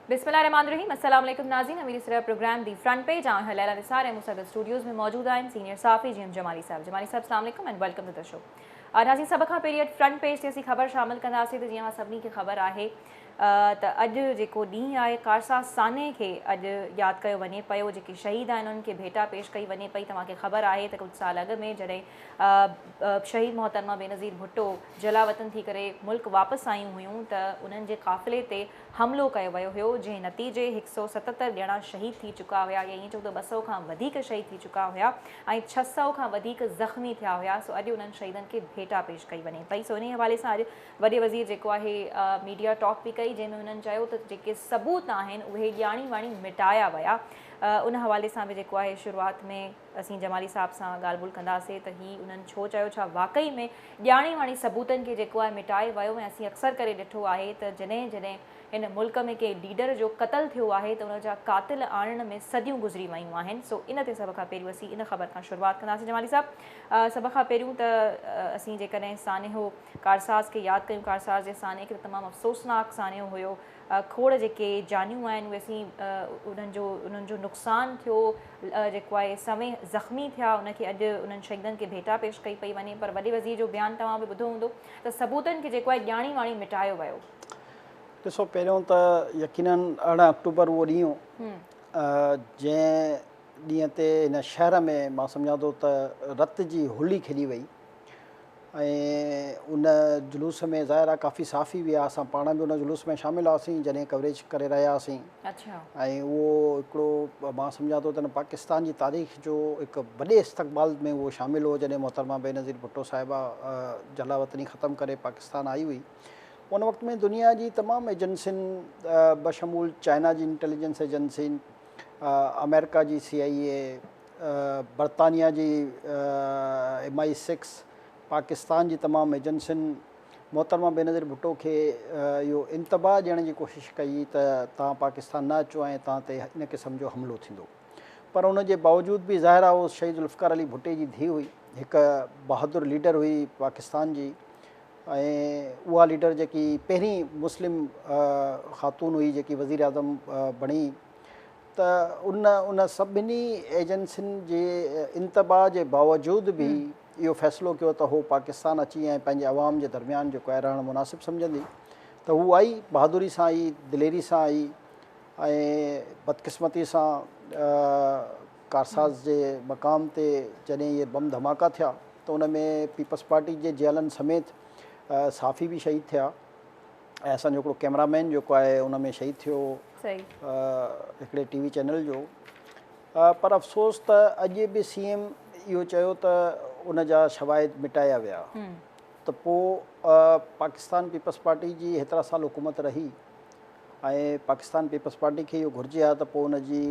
بسم الله الرحمٰن الرحيم السلام عليڪم ناظرين اميري سرء programme the front page on air Laila Nisar ۽ مون سان گڏ اسٽوڊيوز ۾ موجود آهن سينيئر صحافي جي ايم جمالي صاحب جمالي صاحب السلام عليڪم and welcome to the show ناظرين سڀ کان پهرين اڄ فرنٽ پيج تي اسين خبر شامل ڪنداسين ته جيئن سڀني کي خبر آهي ته اڄ جيڪو ڏينهن آهي قارسا سانحي کي اڄ ياد ڪيو وڃي پيو جيڪي شهيد آهن انهن کي ڀيٽا پيش ڪئي وڃي پئي توهان کي خبر آهي ته ڪجهه سال اڳ ۾ جڏهن شهيد محترمه بينظير ڀٽو جلاوطن ٿي ڪري ملڪ واپس آيون هيون ته انهن جي قافلي تي حملو ڪيو ويو هيو جنهن نتيجي هڪ سؤ ستتر ڄڻا شهيد ٿي چڪا هيا يا ائين چئون ته ٻه سؤ کان وڌيڪ شهيد ٿي چڪا هيا ۽ ڇهه سؤ کان وڌيڪ زخمي ٿيا هيا سو اڄ انهن شهيدن کي ڀيٽا پيش ڪئي وڃي پئي سو انهي حوالي سان اڄ وڏي وزير جيڪو آهي ميڊيا ٽاڪ به ڪئي جنهن ۾ هنن چيو ته جيڪي ثبوت آهن اهي ڄاڻي واڻي مٽايا ويا ان حوالي سان به جيڪو آهي شروعات ۾ اسين جمالي صاحب سان ڳالهه ٻولهه ڪنداسين ته هي انهن ڇو چيو، ڇا واقعي ۾ ڄاڻي واڻي ثبوتن کي جيڪو آهي مٽائي ويو ۽ اسين اڪثر ڪري ڏٺو آهي ته جڏهن جڏهن هن ملڪ ۾ ڪنهن ليڊر جو قتل ٿيو آهي ته ان جا قاتل آڻڻ ۾ صديون گذري ويون آهن سو ان تي سڀ کان پهريون اسين ان خبر کان شروعات ڪنداسين جمالي صاحب سڀ کان پهريون ته اسين جيڪڏهن سانحو ڪارساز کي ياد ڪيون ڪارساز جي سانحي کي ته تمام افسوسناڪ سانحو هيو کوڙ جيڪي جانيون آهن اهي سين انهن جو انهن جو نقصان ٿيو جيڪو آهي سوين زخمي ٿيا ان کي اڄ انهن شهيدن کي ڀيٽا پيش ڪئي پئي وڃي پر وڏي وزير جو بيان توهان به ٻڌو هوندو ته ثبوتن کي جيڪو آهي ڄاڻي واڻي مٽايو ويو. ڏسو پهريون ته يقينن ارڙهن آڪٽوبر اهو ڏينهن هو جنهن ڏينهن تي هن شهر ۾ مان سمجهان ٿو ته رت جي هولي کيڏي وئي. ۽ ان جلوس ۾ ظاهر آهي ڪافي صحافي به هئا اسان پاڻ به ان جلوس ۾ شامل هئاسين جڏهن ڪوريج ڪري رهيا هئاسين اڇا ۽ اهو هڪڙو مان سمجهان ٿو ته ان پاڪستان جي تاريخ جو هڪ وڏي استقبال ۾ اهو شامل هو جڏهن محترمه بينظير ڀٽو صاحبه جلا وطني ختم ڪري پاڪستان آئي هئي ان وقت ۾ دنيا جي تمام ايجنسين بشمول چائنا جي انٽيليجنس ايجنسين آمريڪا جي سي آئي اي برطانيا جي ايم آء سڪس پاڪستان جي تمام ايجنسين محترمه بينظير ڀٽو کي اهو انتباهه ڏيڻ جي ڪوشش ڪئي ته توهان پاڪستان نه اچو ۽ توهان تي ان قسم جو حملو ٿيندو پر ان جي باوجود به ظاهر آهي هو شهيد ذوالفقار علي ڀٽي جي ڌيء هئي هڪ بهادر ليڊر هئي پاڪستان جي ۽ اها ليڊر جيڪي پهرين مسلم خاتون هئي جيڪي وزيراعظم بڻي ته ان ان سڀني ايجنسين جي انتباع جي باوجود به اهو فيصلو ڪيو ته هو پاڪستان اچي ۽ پنهنجي عوام جي درميان جيڪو آهي رهڻ مناسب سمجهندي ته هو آئي، بهادري سان آئي، دليري سان آئي ۽ بدقسمتي سان ڪارساز جي مقام تي جڏهن اهي بم ڌماڪا ٿيا ته ان ۾ پيپلز پارٽي جي جيلن سميت صحافي به شهيد ٿيا. ۽ اسان جو هڪڙو ڪيمرا مين جيڪو آهي ان ۾ شهيد ٿيو هڪڙي ٽي وي چينل جو پر افسوس ته اڄ به سي ايم اهو چيو ته ان جا شواهد مٽايا ويا ته پو پاڪستان پيپلز پارٽي جي هيترا سال حڪومت رهي ۽ پاڪستان پيپلز پارٽي کي اهو گهرجي ها ته پو ان جي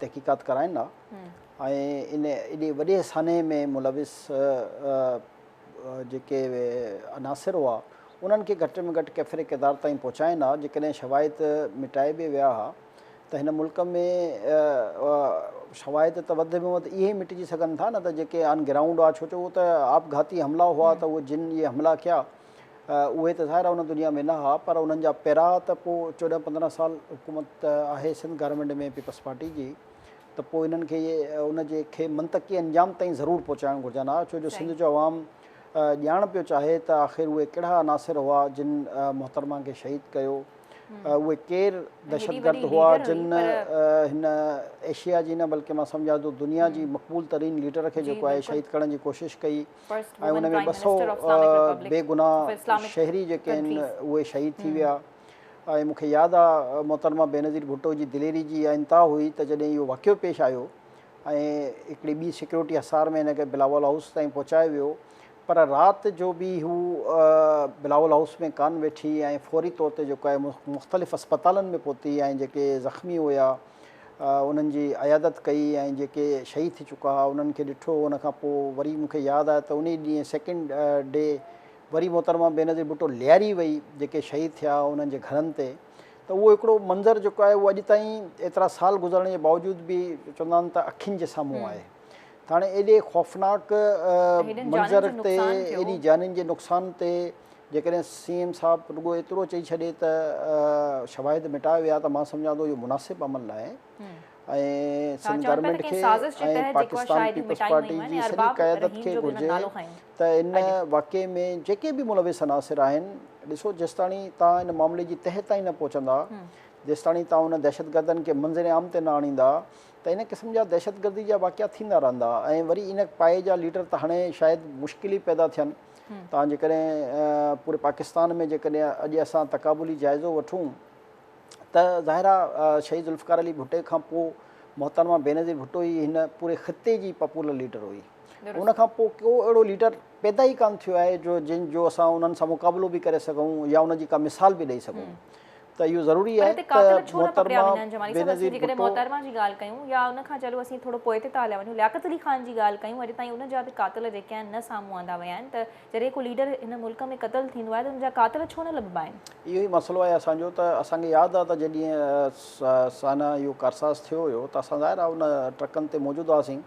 تحقيقات ڪرائين ها ۽ ان ايڏي وڏي سانحي ۾ ملوث جيڪي عناصر هئا، انهن کي گهٽ ۾ گهٽ ڪيفر ڪردار تائين پهچائين ها، جيڪڏهن شواهد مٽائي به ويا ها ته هن ملڪ ۾ شواهد ته وڌ ۾ وڌ اهي ئي مٽجي سگهن ٿا نه ته جيڪي آن گرائونڊ هئا، ڇو جو اهي ته آپگهاتي حملا هئا ته اهي جن اهي حملا ڪيا اهي ته ظاهر آهي ان دنيا ۾ نه هئا پر انهن جا پيرا ته پوء چوڏهن پندرهن سال حڪومت آهي سنڌ گارمينٽ ۾ پيپلز پارٽي جي، ته پوء انهن کي ان جي کي منطقي انجام تائين ضرور پهچائڻ گهرجن ها ڇو جو سنڌ جو عوام ڄاڻ پيو چاهي ته آخر اهي ڪهڙا عناصر هئا جن محترمه کي شهيد ڪيو اهي ڪير دهشتگرد هئا جن هن ايشيا جي نه بلڪه مان سمجهان ٿو دنيا جي مقبول ترين ليڊر کي جيڪو آهي شهيد ڪرڻ جي ڪوشش ڪئي ۽ ان ۾ ٻه سؤ بي گناهه شهري جيڪي آهن اهي شهيد ٿي ويا ۽ مون کي ياد آ محترمه بينظير ڀٽو جي دليري جي اها انتها هئي ته جڏهن اهو واقعو پيش آيو ۽ هڪڙي ٻي سيڪيورٽي حصار ۾ هن کي بلاول هائوس تائين پهچايو ويو پر رات جو به هو بلاول هائوس ۾ ڪانه ويٺي ۽ فوري طور تي جيڪو آهي مختلف اسپتالن ۾ پهتي ۽ جيڪي زخمي هيا انهن جي عيادت ڪئي ۽ جيڪي شهيد ٿي چڪا هئا انهن کي ڏٺو ان کان پوء وري مون کي ياد آهي ته انهي ڏينهن سيڪنڊ ڊي وري محترمه بينظير ڀٽو لياري وئي جيڪي شهيد ٿيا انهن جي گهرن تي ته اهو هڪڙو منظر جيڪو آهي اهو اڄ تائين ايترا سال گذرڻ جي باوجود به چوندا آهن ته اکين جي سامهون آهي ته هاڻي ايڏي خوفناڪ منظر تي ايڏي جانين جي نقصان تي جيڪڏهن سي ايم صاحب رڳو ايترو چئي ڇڏي ته شواهد مٽايا ويا ته مان سمجهان ٿو اهو مناسب عمل ناهي ۽ سنڌ گورنمينٽ کي ۽ پاڪستان پيپلز پارٽي جي سڄي قيادت کي گهرجي ته ان اڄ. واقعي ۾ جيڪي به ملوث عناصر آهن، ڏسو جيستاڻي توهان ان معاملي جي تهه تائين نه پهچندا، جيستاڻي توهان ان دهشتگردن کي منظر عام تي نه آڻيندا ته ان قسم جا دهشتگردي جا واقعا ٿيندا رهندا ۽ وري ان پائي جا ليڊر ته هاڻي شايد مشڪل ئي پيدا ٿين. توهان جيڪڏهن پوري پاڪستان ۾ جيڪڏهن اڄ اسان تقابلي جائزو وٺون ته ظاهر آ شهيد ذوالفقار علي ڀٽي کان پوء محترمه بينظير ڀٽو ئي هن پوري خطي جي پاپولر ليڊر هئي. ان کان پوء ڪو اهڙو ليڊر پيدا ئي ڪانه ٿيو آهي جو جن جو اسان انهن سان مقابلو به ڪري سگهون يا ان جي ڪا مثال به ڏئي سگهون ته اهو ضروري آهي ته محترمه بينظير ڀٽو پر هتي قاتل ڇو نه پيا وڃن جمالي صاحب اسين جيڪڏهن محترمه جي ڳالهه ڪيون يا ان کان چلو اسين ٿورو پوئتي ٿا هليا وڃون لياقت علي خان جي ڳالهه ڪيون اڄ تائين ان جا به قاتل جيڪي آهن نه سامهون آندا ويا آهن ته جڏهن ڪو ليڊر هن ملڪ ۾ قتل ٿيندو آهي ته ان جا قاتل ڇو نه لڀبا آهن. اهو ئي مسئلو آهي اسان جو ته اسان کي ياد آهي ته جڏهن سانحه اهو ڪارساز ٿيو هيو ته اسان ظاهر آهي ان ٽرڪن تي موجود هئاسين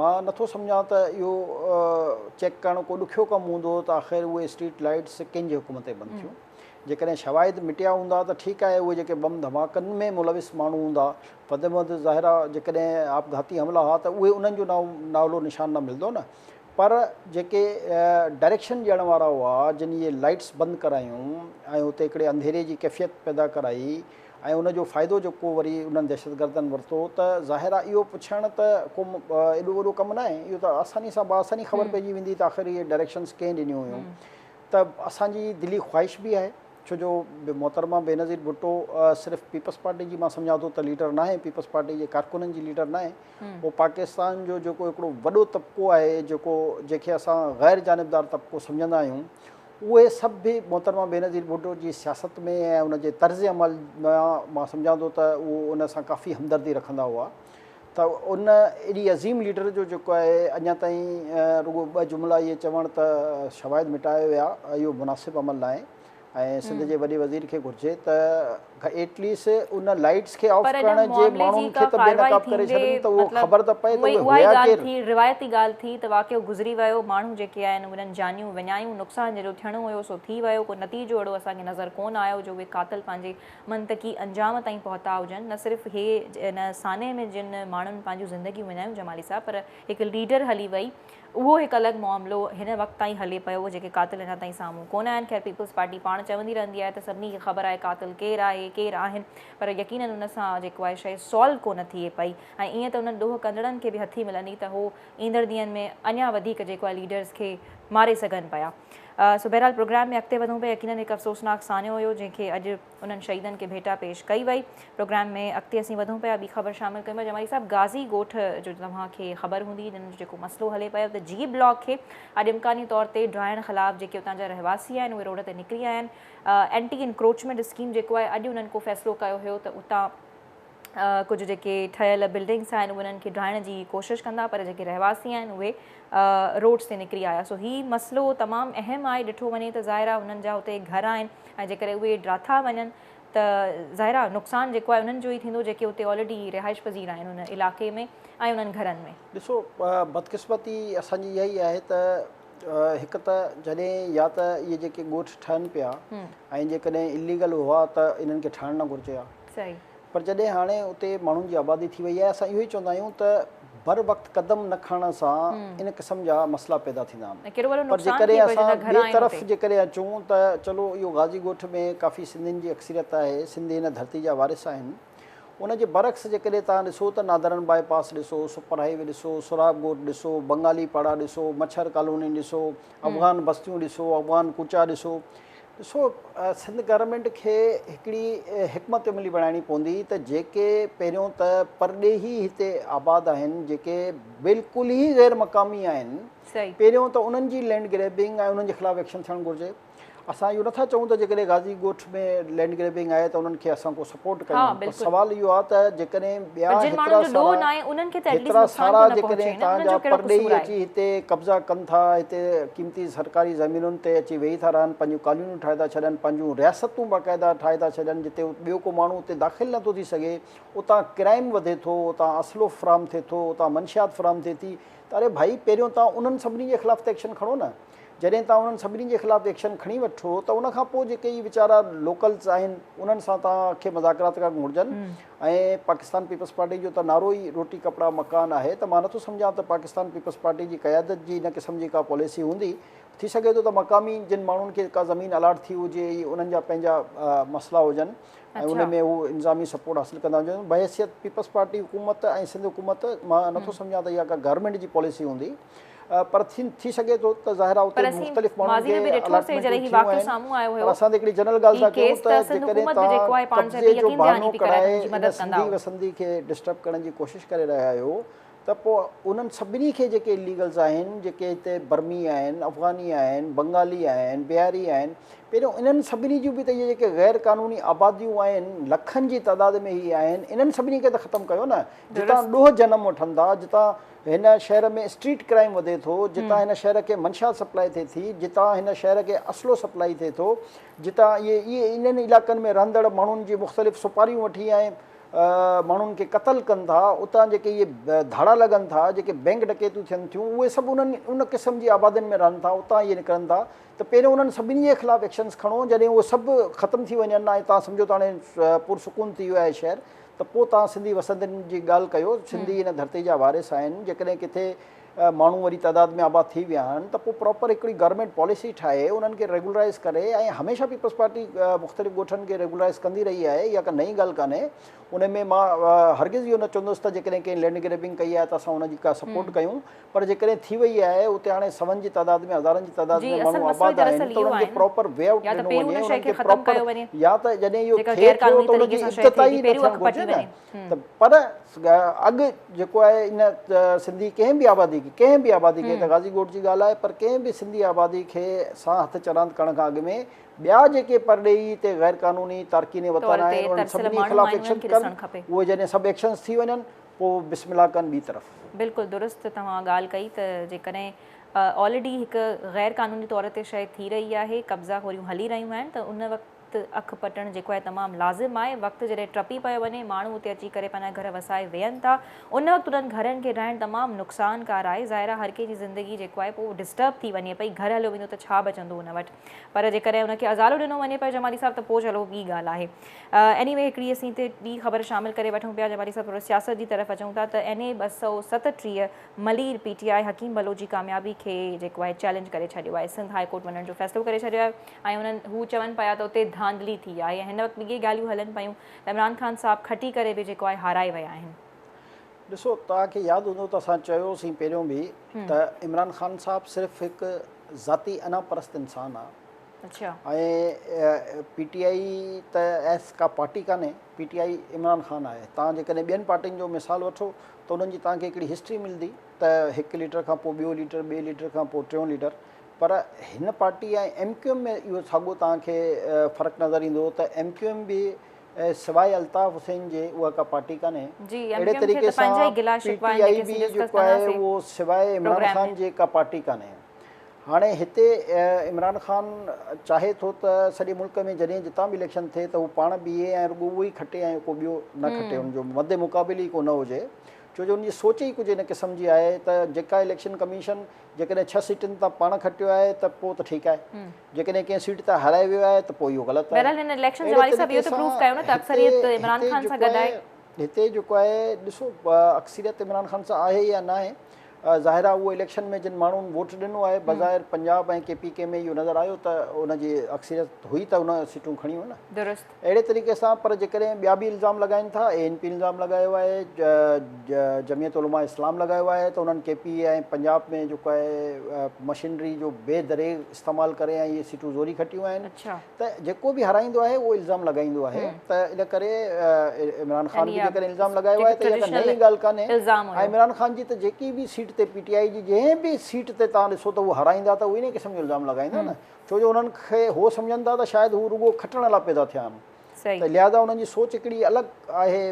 مان نٿو سمجهان ته اهو چيڪ ڪرڻ ڪو ڏکيو ڪم هوندو ته آخر اهي اسٽريٽ لائيٽس ڪنهن جي حڪم تي بند ٿيون. جيڪڏهن شواهد مٽيا هوندا ته ٺيڪ آهي اهي جيڪي بم ڌماڪن ۾ ملوث ماڻهو هوندا وڌ ۾ وڌ ظاهرا جيڪڏهن آپگهاتي حملا ها ته اهي انهن جو نالو نشان نه ملندو نه پر جيڪي ڊائريڪشن ڏيڻ وارا هئا جن اهي لائيٽس بند ڪرايون ۽ اتي هڪڙي انڌيري جي ڪيفيت پيدا ڪرائي ۽ ان جو فائدو جيڪو وري انهن دهشتگردن ورتو ته ظاهر آهي اهو پڇڻ ته ڪو ايڏو وڏو ڪم ناهي اهو ته آساني سان بآساني خبر پئجي ويندي ته آخر اهي ڊائريڪشنز ڪنهن ڏنيون هيون ته اسان جي دلي خواهش به آهي ڇو جو محترمه بينظير ڀٽو صرف پيپلز پارٽي جي مان سمجهان ٿو ته ليڊر ناهي پيپلز پارٽي جي ڪارڪنن جي ليڊر ناهي اهو پاڪستان جو جيڪو هڪڙو وڏو طبقو آهي جيڪو جنهن کي اسان غير جانبدار طبقو سمجهندا آهيون اهي سڀ به محترمه بينظير ڀٽو جي سياست ۾ ۽ ان جي طرز عمل مان مان سمجهان ٿو ته اهو ان سان ڪافي همدردي رکندا هئا ته ان ايڏي عظيم ليڊر جو جيڪو آهي اڃا تائين رڳو ٻه جملا اهي چوڻ ته شواهد مٽايا ويا اهو مناسب عمل ناهي ۽ سنڌ جي وڏي وزير کي گهرجي ته ايٽ ليسٽ ان لائيٽس کي آف ڪرڻ جي ماڻهن کي ته بي نقاب ڪري ڇڏن ته اهو خبر ته پئي ته اهي هيا ڪير. روايتي ڳالهه ٿي ته واقعو گذري ويو ماڻهو جيڪي آهن انهن جانيون وڃايون نقصان جيڏو ٿيڻو هيو سو ٿي ويو ڪو نتيجو اهڙو اسان کي نظر ڪونه آيو جو اهي قاتل پنهنجي منطقي انجام تائين پهتا هجن نه صرف هي ان سانحي ۾ جن ماڻهن پنهنجون زندگيون وڃايون جمالي صاحب پر هڪ ليڊر هلي وئي اهو هڪ الڳ معاملو هن وقت تائين هلي پيو جيڪي قاتل اڃا تائين سامهون ڪونه آيا آهن خير پيپلز پارٽي پاڻ چوندي رهندي آهي ته سڀني کي خبر آهي قاتل ڪير آهي ڪير آهن پر يقينن ان سان جيڪو آهي شيء سالو ڪونه ٿئي پئي ۽ ائين ته انهن ڏوهه ڪندڙن کي به هٿي ملندي ته هو ايندڙ ڏينهن ۾ اڃا وڌيڪ جيڪو آهي ليڊرز کي ماري سگهن پيا سو بهرحال پروگرام ۾ اڳتي وڌون پيا يقينن هڪ افسوسناڪ سانحو هيو جنهن کي اڄ انهن شهيدن کي ڀيٽا پيش ڪئي وئي. پروگرام ۾ اڳتي اسين وڌون پيا ٻي خبر شامل ڪيون پيا جمالي صاحب غازي ڳوٺ جو توهان کي خبر هوندي جن جو جيڪو مسئلو هلي پيو ته جي بلاڪ کي اڄ امڪاني طور تي ڊاهڻ خلاف جيڪي اتان جا رهواسي آهن اهي روڊ تي نڪري آيا آهن اينٽي انڪروچمينٽ اسڪيم جيڪو آهي اڄ انهن ڪو فيصلو ڪيو هيو ته اتان ڪجهه جيڪي ٺهيل بلڊنگس آهن انهن کي ڊاهڻ جي ڪوشش ڪندا پر جيڪي رهواسي آهن اهي روڊس تي نڪري آيا سو هي مسئلو تمام اهم آهي ڏٺو وڃي ته ظاهر آهي انهن جا اتي گهر آهن ۽ جيڪڏهن اهي ڊاٿا وڃن ته ظاهر آهي نقصان جيڪو آهي انهن جو ئي ٿيندو جيڪي اتي آلريڊي رهائش پذير آهن ان علائقي ۾ ۽ انهن گهرن ۾ ڏسو بدقسمتي اسان جي اها ئي آهي ته هڪ ته جڏهن يا ته اهي جيڪي ڳوٺ ٺهن پيا ۽ جيڪڏهن اليگل هئا ته انهن کي ٺهڻ نه گهرجي ها پر جڏهن هاڻي اتي ماڻهن جي آبادي ٿي وئي آهي اسان اهو ئي چوندا آهيون ته بر وقت قدم نه کڻڻ سان ان قسم جا مسئلا پيدا ٿيندا آهن پر جيڪڏهن اسان ٻئي طرف جيڪڏهن اچون ته چلو اهو غازي ڳوٺ ۾ ڪافي سنڌين جي اڪثريت آهي سنڌي هن ڌرتي جا وارث آهن ان جي برعڪس جيڪڏهن توهان ڏسو ته نادرن باء پاس ڏسو، سپر هاء وي ڏسو، سهراب ڳوٺ ڏسو، بنگالي پاڙا ڏسو، مڇر ڪالوني ڏسو، افغان بستيون ڏسو، افغان ڪوچا ڏسو. ڏسو سنڌ گورنمينٽ کي هڪڙي حڪمت عملي بڻائڻي پوندي ته جيڪي پهريون ته پرڏيهي هتي آباد آهن جيڪي بلڪل ئي غير مقامي آهن پهريون ته انهن جي لينڊ گريبنگ ۽ انهن جي خلاف ايڪشن ٿيڻ گهرجي. اسان اهو نٿا چئون ته جيڪڏهن غازي ڳوٺ ۾ لينڊ گريبنگ آهي ته انهن کي اسان ڪو سپورٽ ڪيون پر سوال اهو آهي ته جيڪڏهن ٻيا هيترا سارا جيڪڏهن تان جا پرڏيهي اچي هتي قبضا ڪن ٿا هتي قيمتي سرڪاري زمينن تي اچي ويهي ٿا رهن پنهنجون ڪالونيون ٺاهي ٿا ڇڏن پنهنجون رياستون باقاعده ٺاهي ٿا ڇڏن جتي ٻيو ڪو ماڻهو اتي داخل نٿو ٿي سگهي اتان ڪرائيم وڌي ٿو اتان اسلحو فراهم ٿئي ٿو اتان منشيات فراهم ٿئي ٿي ته اري ڀائي پهريون تان انهن سڀني جي خلاف ته ايڪشن کڻو نه جڏهن توهان انهن سڀني جي خلاف ايڪشن کڻي وٺو ته ان کان پوء جيڪي هي ويچارا لوڪلز آهن انهن سان توهان کي مذاڪرات ڪرڻ گهرجن ۽ پاڪستان پيپلز پارٽي جو ته نعرو ئي روٽي ڪپڙا مڪان آهي ته مان نٿو سمجهان ته پاڪستان پيپلز پارٽي جي قيادت جي ان قسم جي ڪا پاليسي هوندي ٿي سگهي ٿو ته مقامي جن ماڻهن کي ڪا زمين الاٽ ٿي هجي ۽ انهن جا پنهنجا مسئلا هجن ۽ ان ۾ هو انظامي سپورٽ حاصل ڪندا هجن بحيثيت پيپلز پارٽي حڪومت ۽ سنڌ حڪومت مان نٿو سمجهان ته اها ڪا گورنمينٽ جي پاليسي هوندي پر ٿين ٿي سگهي ٿو ته ظاهر آهي اتي مختلف ماڻهن کي الاٽمينٽون ٿيون آهن پر اسان ته هڪڙي جنرل ڳالهه ٿا ڪيون ته جيڪڏهن توهان قبضي جو بهانو ڪرائي ان سنڌي وسندي کي ڊسٽرب ڪرڻ جي ڪوشش ڪري رهيا آهيو ته پوء انهن سڀني کي جيڪي اليگلز آهن جيڪي هتي برمي آهن افغاني آهن بنگالي آهن بهاري آهن پهريون انهن سڀني جون به ته اهي جيڪي غير قانوني آباديون آهن لکن جي تعداد ۾ هي آهن انهن سڀني کي ته ختم ڪيو نه جتان ڏوهه جنم وٺن ٿا جتان هن شهر ۾ اسٽريٽ ڪرائيم وڌي ٿو، جتان هن شهر کي منشيات سپلاء ٿئي ٿي، جتان هن شهر کي اسلحو سپلاء ٿئي ٿو، جتان اهي اهي انهن علائقن ۾ رهندڙ ماڻهن جي مختلف سپاريون وٺي ۽ ماڻهن کي قتل ڪن ٿا، اتان جيڪي اهي ڌاڙا لڳن ٿا، جيڪي بئنڪ ڊڪيتيون ٿين ٿيون، اهي سڀ انهن ان قسم جي آبادين ۾ رهن ٿا، اتان اهي نڪرن ٿا ته پهريون انهن سڀني جي خلاف ايڪشنز کڻو، جڏهن اهي سڀ ختم ٿي وڃن ۽ تهان سمجهو ته هاڻي پر سڪون ٿي ويو آهي شهر ته پوء توهان سنڌي وسندين جي ڳالهه ڪيو، سنڌي هن ڌرتي جا وارث آهن، جيڪڏهن ڪٿي ماڻهو وري تعداد ۾ آباد ٿي ويا آهن ته پوء پراپر هڪڙي گورنمينٽ پاليسي ٺاهي انهن کي ريگولرائيز ڪري ۽ هميشه پيپلز پارٽي مختلف ڳوٺن کي ريگولرائيز ڪندي رهي آهي اها ڪا نئين ڳالهه ڪانهي ان ۾ مان هرگز اهو نه چوندس ته جيڪڏهن ڪنهن لينڊ گريبنگ ڪئي آهي ته اسان ان جي ڪا سپورٽ ڪيون پر جيڪڏهن ٿي وئي آهي اتي هاڻي سون جي تعداد ۾ هزارن جي تعداد ۾ ماڻهو آباد آهن ته انهن کي پراپر وي آئوٽ ڏنو وڃي انهن کي پراپر يا ته جڏهن اهو ٿئي ٿو ته ان جي افتتاحي نه ٿيڻ گهرجي نه ته پر اڳ جيڪو آهي ان سنڌي ڪنهن به آبادي کي ڪنهن به آبادي کي ته غازي ڳوٺ جي ڳالهه آهي پر ڪنهن به سنڌي آبادي کي سان هٿ چراند ڪرڻ کان اڳ ۾ ٻيا جيڪي پرڏيهي اتي غيرقانوني تارڪين وطن آهن انهن سڀني خلاف ايڪشن ڪن اهي جڏهن سڀ ايڪشنز ٿي وڃن پوء بسم الله ڪن ٻي طرف. بلڪل درست توهان ڳالهه ڪئي ته جيڪڏهن آلريڊي هڪ غير قانوني طور تي شئي ٿي رهي آهي قبضا خوريون هلي رهيون آهن ته ان وقت اک پٽڻ جيڪو آهي تمام لازم آهي وقت جڏهن ٽپي پيو وڃي ماڻهو اتي اچي ڪري پنهنجا گهر وسائي ويهن ٿا ان وقت انهن گهرن کي ڊاهڻ تمام نقصان ڪار آهي ظاهر آهي هر ڪنهن جي زندگي جيڪو آهي پوء ڊسٽرب ٿي وڃي پئي گهر هليو ويندو ته ڇا بچندو ان وٽ پر جيڪڏهن ان کي ازالو ڏنو وڃي پيو جمالي صاحب ته پوء چلو ٻي ڳالهه آهي ايني وي هڪڙي اسين هتي ٻي خبر شامل ڪري وٺون پيا جي واري سان ٿورو سياست جي طرف اچون ٿا ته اين اي ٻه سؤ ستٽيهه Malir P T I Hakeem Baloch جي ڪاميابي کي جيڪو آهي چئلينج ڪري ڇڏيو آهي سنڌ هاء ڪورٽ وڃڻ جو فيصلو ڪري ڇڏيو آهي ۽ انهن هو چون پيا ته اتي ڌانڌلي ٿي آهي ۽ هن وقت به اهي ڳالهيون هلن پيون ته عمران خان صاحب کٽي ڪري به جيڪو آهي هارائي ويا آهن. ڏسو توهان کي ياد هوندو ته اسان چيو سين پهريون به ته عمران خان صاحب صرف هڪ ذاتي انا پرست انسان آهي. اڇا. ۽ پي ٽي آء ته ايس ڪا پارٽي ڪانهي P T I Imran Khan آهي توهان جيڪڏهن ٻين پارٽين جو مثال وٺو ته انهن جي توهان کي هڪڙي هسٽري ملدي ته هڪ ليڊر کان پوء ٻيو ليڊر ٻئي ليڊر کان پوء ٽيون ليڊر پر هن پارٽي ۽ ايم ڪيو ايم ۾ اهو ساڳو توهان کي فرق نظر ايندو ته ايم ڪيو ايم به سواء الطاف حسين جي اها ڪا پارٽي ڪانهي اهڙي طريقي سان پي ٽي آء به جيڪو آهي اهو سواء عمران خان جي ڪا پارٽي ڪانهي هاڻي هتي عمران خان چاهي ٿو ته سڄي ملڪ ۾ جڏهن جتان به اليڪشن ٿئي ته هو پاڻ بيهي ۽ رڳو اهو ئي کٽي ۽ ڪو ٻيو نه کٽي ان جو مد مقابل ئي ڪو نه هجي ڇو جو ان جي سوچ ئي ڪجهه ان قسم جي آهي ته جيڪا اليڪشن ڪميشن جيڪڏهن ڇهه سيٽن تان پاڻ کٽيو آهي ته پوء ته ٺيڪ آهي جيڪڏهن ڪنهن سيٽ تان هارائي ويو آهي ته پوء اهو غلط آهي بهرحال هن اليڪشن جي حوالي سان به اهو ته پروف ڪيو نه ته اڪثريت عمران خان سان گڏ آهي هتي جيڪو آهي ڏسو اڪثريت عمران خان سان آهي يا ناهي ظاهر آهي اهو اليڪشن ۾ جن ماڻهن ووٽ ڏنو آهي بظاهر پنجاب ۽ ڪي پي ڪي ۾ اهو نظر آيو ته ان جي اڪثريت هئي ته ان سيٽون کڻيون نه درست اهڙي طريقي سان پر جيڪڏهن ٻيا به الزام لڳائين ٿا اي اين پي الزام لڳايو آهي جميعت علماء اسلام لڳايو آهي ته انهن ڪي پي ۽ پنجاب ۾ جيڪو آهي مشينري جو بي دريغ استعمال ڪري ۽ اهي سيٽون زوري کٽيون آهن ته جيڪو به هارائيندو آهي اهو الزام لڳائيندو آهي ته ان ڪري عمران خان به جيڪڏهن الزام لڳايو آهي ته اها نئين ڳالهه ڪانهي ۽ عمران خان جي ته جيڪي به سيٽ تي پي ٽي آئي جي جنهن به سيٽ تي تان ڏسو ته هو هارائيندا ته انهي قسم جو الزام لڳائيندا نه ڇو جو انهن کي هو سمجهن ٿا ته شايد هو رڳو کٽڻ لاء پيدا ٿيا آهن ته لهذا انهن جي سوچ هڪڙي الڳ آهي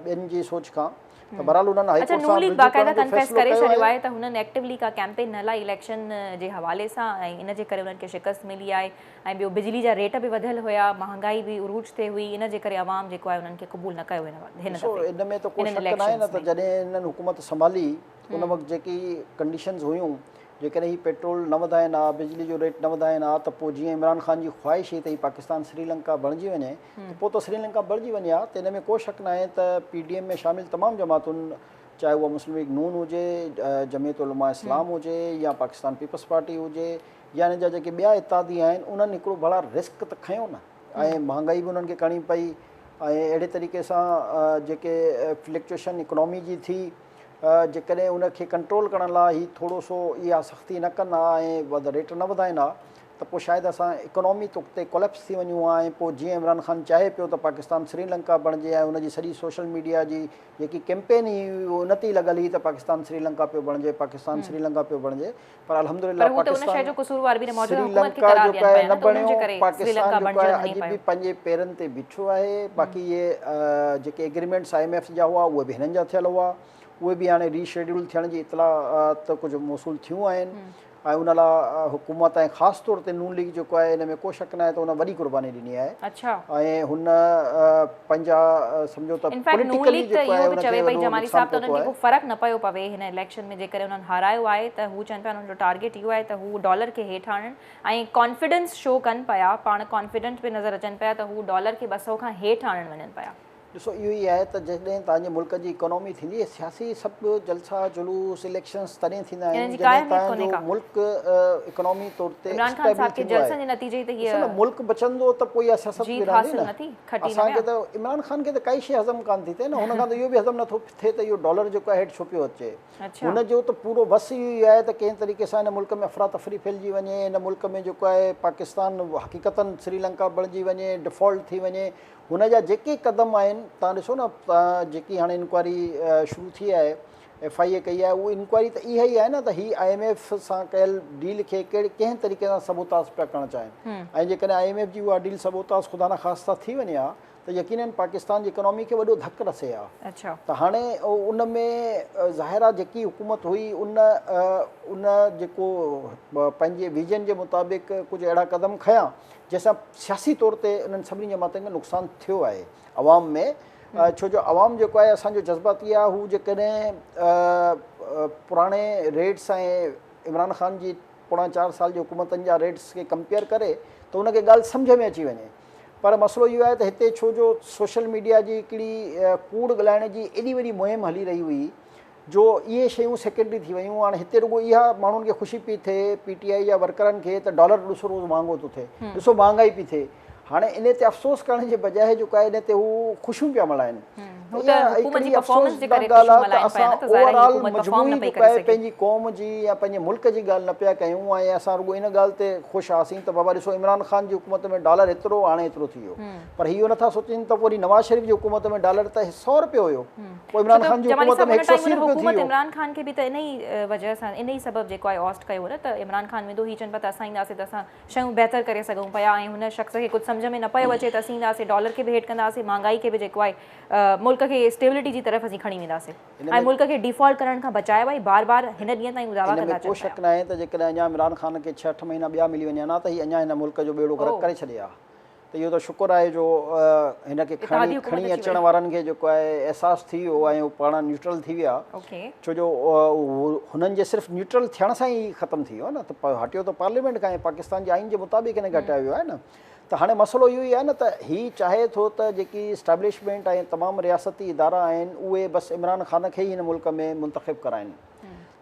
ٻين جي سوچ کان ته بهرحال انهن هائي ڪورٽ سان رجوع ڪرڻ جو فيصلو ڪيو آهي ته هنن ايڪٽيوولي ڪا ڪيمپين نه هلائي اليڪشن جي حوالي سان ۽ ان جي ڪري انهن کي شڪست ملي آهي ۽ ٻيو بجلي جا ريٽ به وڌيل هيا مهانگائي به عروج تي هئي ان جي ڪري عوام جيڪو آهي انهن کي قبول نه ڪيو هن ڏسو دفعي ان ۾ ته ڪو هنن شڪ ناهي نه اليڪشنز ته ۾. جڏهن هنن حڪومت سنڀالي ان وقت جيڪي ڪنڊيشنز هيون جيڪڏهن هي پيٽرول نه وڌائين ها بجلي جو ريٽ نه وڌائين ها ته پوء جيئن عمران خان جي خواهش هئي ته هي پاڪستان سري لنڪا بڻجي وڃي ته پوء ته سري لنڪا بڻجي وڃي ها ته ان ۾ ڪو شڪ ناهي ته پي ڊي ايم ۾ شامل تمام جماعتن چاهي اها مسلم ليگ نون هجي جمعيت علماء اسلام هجي يا پاڪستان پيپلز پارٽي هجي يا هن جا جيڪي ٻيا اتحادي آهن انهن هڪڙو بڙا رسڪ ته کنيو نه ۽ مهانگائي به انهن کي ڪرڻي پئي ۽ اهڙي طريقي سان جيڪي فلڪچوئيشن اڪنامي جي ٿي جيڪڏهن ان کي ڪنٽرول ڪرڻ لاء هي ٿورو سو اها سختي نه ڪن ها ۽ ريٽ نه وڌائن ها ته پوء شايد اسان اڪنامي طور تي ڪوليپس ٿي وڃون ها ۽ پوء جيئن عمران خان چاهي پيو ته پاڪستان سري لنڪا بڻجي ۽ ان جي سڄي سوشل ميڊيا جي جيڪي ڪيمپين هئي ان تي ئي لڳل هئي ته پاڪستان سري لنڪا پيو بڻجي پاڪستان سري لنڪا پيو بڻجي پر الحمد لله پاڪستان سري لنڪا جيڪا آهي نه بڻيو پاڪستان جيڪو آهي اڄ به پنهنجي پيرن تي بيٺو آهي باقي اهي جيڪي ايگريمينٽس آء ايم ايف جا هئا اهي به هنن جا ٿيل هئا اهي به هاڻي ري شيڊيول ٿيڻ جي اطلاعات ڪجهه موصول ٿيون آهن ۽ ان لاء حڪومت ۽ خاص طور تي نون ليگ جيڪو آهي ان ۾ ڪو شڪ ناهي ته ان وڏي قرباني ڏني آهي ۽ هن پنهنجا سمجهو ته پوليٽيڪلي جيڪو آهي ان کي وڏو نقصان پهتو آهي. فرق نه پيو پوي هن اليڪشن ۾ جيڪڏهن انهن هارايو آهي ته هو چون پيا انهن جو ٽارگيٽ اهو آهي ته هو ڊالر کي هيٺ آڻن ۽ ڪانفيڊنس شو ڪن پيا پاڻ ڪانفيڊنٽ پي نظر اچن پيا ته هو ڊالر کي ٻه سئو کان هيٺ آڻڻ وڃن پيا. ڏسو اهو ئي آهي ته جڏهن توهان جي ملڪ جي اڪانومي ٿيندي آهي سياسي سڀ جلسا جلوس اليڪشنز تڏهن ٿيندا آهن جڏهن توهان جو ملڪ اڪانومي طور تي اسٽيبل ٿيندو آهي ڏسو نه ملڪ بچندو ته پوء اها سياست به رهندي نه. کٽي نه ويا. اسان کي ته عمران خان کي ته ڪائي شيء هضم ڪانه ٿي ٿئي نه هن کان ته اهو به هضم نٿو ٿئي ته اهو ڊالر جيڪو آهي هيٺ ڇو پيو اچي هن جو ته پورو وس اهو ئي آهي ته ڪنهن طريقي سان هن ملڪ ۾ افراتفري ڦهلجي وڃي هن ملڪ ۾ جيڪو آهي پاڪستان حقيقتا سريلنڪا بڻجي وڃي ڊفالٽ ٿي وڃي هن جا جيڪي قدم آهن تهان ڏسو نه جيڪي هاڻي انڪوائري شروع ٿي آهي ايف آء اي ڪئي آهي اهو انڪوائري ته اها ئي آهي نه ته هي آء ايم ايف سان ڪيل ڊيل کي ڪهڙي ڪنهن طريقي سان سبوتاس پيا ڪرڻ چاهين ۽ جيڪڏهن آء ايم ايف جي اها ڊيل سبوتاس خدا نه خاصتا ٿي وڃي ها ته يقينن پاڪستان جي اڪانومي کي وڏو ڌڪ رسي ها ته هاڻي ان ۾ ظاهر آهي جيڪي حڪومت هئي ان ان جيڪو پنهنجي ويزن جي مطابق ڪجهه اهڙا قدم کنيا جنهن سان سياسي طور تي انهن سڀني جماعتن کي نقصان ٿيو آهي عوام ۾ ڇو جو عوام جيڪو آهي اسان جو جذباتي آهي هو جيڪڏهن پراڻي ريٽس ۽ عمران خان جي پوڻا چار سال جي حڪومتن جا ريٽس کي ڪمپيئر ڪري ته ان کي ڳالهه سمجهه ۾ اچي وڃي پر مسئلو اهو آهي ته هتي ڇو جو سوشل ميڊيا جي هڪڙي ڪوڙ ڳالهائڻ جي ايڏي وڏي مهم هلي رهي هئي جو اهي شيون سيڪنڊري ٿي ويون هاڻ هتي رڳو اها ماڻهن کي خوشي پئي ٿئي پي ٽي آئي جا ورڪرن کي ته ڊالر ڏسو روز مهانگو ٿو ٿئي ڏسو مهانگائي پئي ٿئي هاڻي ان تي افسوس ڪرڻ جي بجاء جيڪو آهي ان تي هو خوشيون پيا ملهائن پنهنجي قوم جي يا پنهنجي ملڪ جي ڳالهه نه پيا ڪيون ۽ اسان رڳو ان ڳالهه تي خوش هئاسين ته بابا ڏسو عمران خان جي حڪومت ۾ ڊالر هيترو هاڻي هيترو ٿي ويو پر اهو نٿا سوچين ته وري نواز شريف جي حڪومت ۾ ڊالر ته سؤ روپيو هيو عمران خان جي حڪومت ۾ هڪ سؤ اسي روپيو ٿي ويو. عمران خان کي به ته انهي وجه سان انهي سبب جيڪو آهي اوسٽ ڪيو هو نه ته عمران خان ويندو هي چون پيا ته اسان اينداسين ته اسان شيون بهتر ڪري سگهون پيا ۽ هن شخص کي ڪجهه سمجهه ۾ نه پيو اچي ته اسين اينداسين ڊالر کي به هيٺ ڪنداسين مهانگائي کي به جيڪو آهي ملڪ کي اسٽيبلٽي جي طرف اسين کڻي وينداسين ۽ ملڪ کي ڊيفالٽ ڪرڻ کان بچايو آهي بار بار هن ڏينهن تائين هو دعويٰ ڪندا اچن پيا. ان ۾ ڪو شڪ ناهي ته جيڪڏهن اڃا عمران خان کي ڇهه اٺ مهينا ٻيا ملي وڃن ها ته هي اڃا هن ملڪ جو ٻيڙو غرق ڪري ڇڏي ها ته اهو ته شڪر آهي جو هن کي کڻي کڻي اچڻ وارن کي جيڪو آهي احساس ٿي ويو ۽ هو پاڻ نيوٽرل ٿي ويا ڇو جو هنن جي صرف نيوٽرل ٿيڻ سان ئي ختم ٿي ويو نه ته هٽيو ته پارليامينٽ کان پاڪستان جي آئين جي مطابق هن کي هٽايو ويو آهي نه ته هاڻي مسئلو اهو ئي آهي نه ته هي چاهي ٿو ته جيڪي اسٽيبلشمنٽ ۽ تمام رياستي ادارا آهن اهي بس عمران خان کي ئي هن ملڪ ۾ منتخب ڪرائن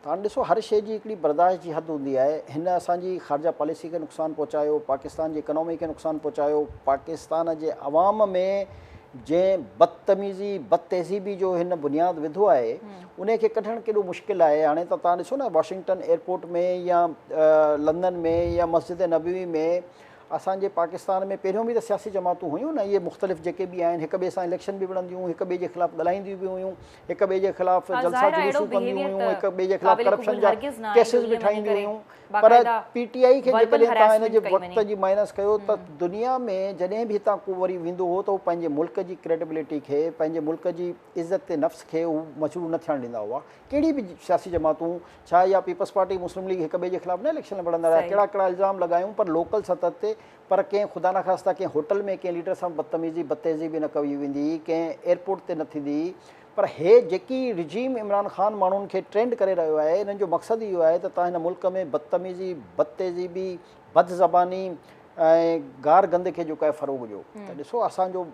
هاڻ ڏسو هر شيء جي هڪڙي برداشت جي حد هوندي آهي، هن اسان جي خارجه پاليسي کي نقصان پهچايو، پاڪستان جي اڪانومي کي نقصان پهچايو، پاڪستان جي عوام ۾ جنهن بدتميزي، بدتهذيبي جو هن بنياد وڌو آهي، انهي کي ڪڍڻ ڪيڏو مشڪل آهي، هاڻي ته توهان ڏسو نه واشنگٽن ايئرپورٽ ۾ يا لندن ۾ يا مسجد نبوي ۾ اسان جي پاڪستان ۾ پهريون به ته سياسي جماعتون هيون نه، اهي مختلف جيڪي به آهن هڪ ٻئي سان اليڪشن به وڙهنديون هيون، هڪ ٻئي جي خلاف ڳالهائينديون به هيون، هڪ ٻئي جي خلاف ها جلسا ظاهر آهي اهڙو جلوسون ڪنديون بيهيويئر هيون ته هڪ ٻئي جي خلاف قابل ڪرپشن قبول جا هرگز نه آهي جو ڪيسز به ائين وڃي ٺاهينديون ڪري هيون پر باقاعده پي ٽي آئي کي وربل جيڪڏهن تان هن جي هراسمينٽ ڪئي وقت وڃي جي مائنس ڪيو ته هم دنيا ۾ جڏهن به هتان ڪو وري ويندو هو ته هو پنهنجي ملڪ جي ڪريڊبلٽي کي پنهنجي ملڪ جي عزت نفس کي هو مشروع نه ٿيڻ ڏيندا هئا ڪهڙي به سياسي جماعتون ڇا اها پيپلز پارٽي مسلم ليگ هڪ ٻئي جي خلاف نه اليڪشن لڙندا رهيا صحيح ڪهڙا ڪهڙا الزام لڳايون پر لوڪل سطح تي پر ڪنهن خدا نخواسته ڪنهن هوٽل ۾ ڪنهن ليڊر سان بدتميزي بتيزي به نه ڪئي ويندي، ڪنهن ايئرپورٽ تي نه ٿيندي پر هي جيڪي رجيم عمران خان ماڻهن کي ٽرينڊ ڪري رهيو آهي انهن جو مقصد ئي اهو آهي ته تان هن ملڪ ۾ بدتميزي بدتيزيبي بد زباني ۽ گار گند کي جيڪو آهي فروغ ڏيو ته ڏسو اسان جو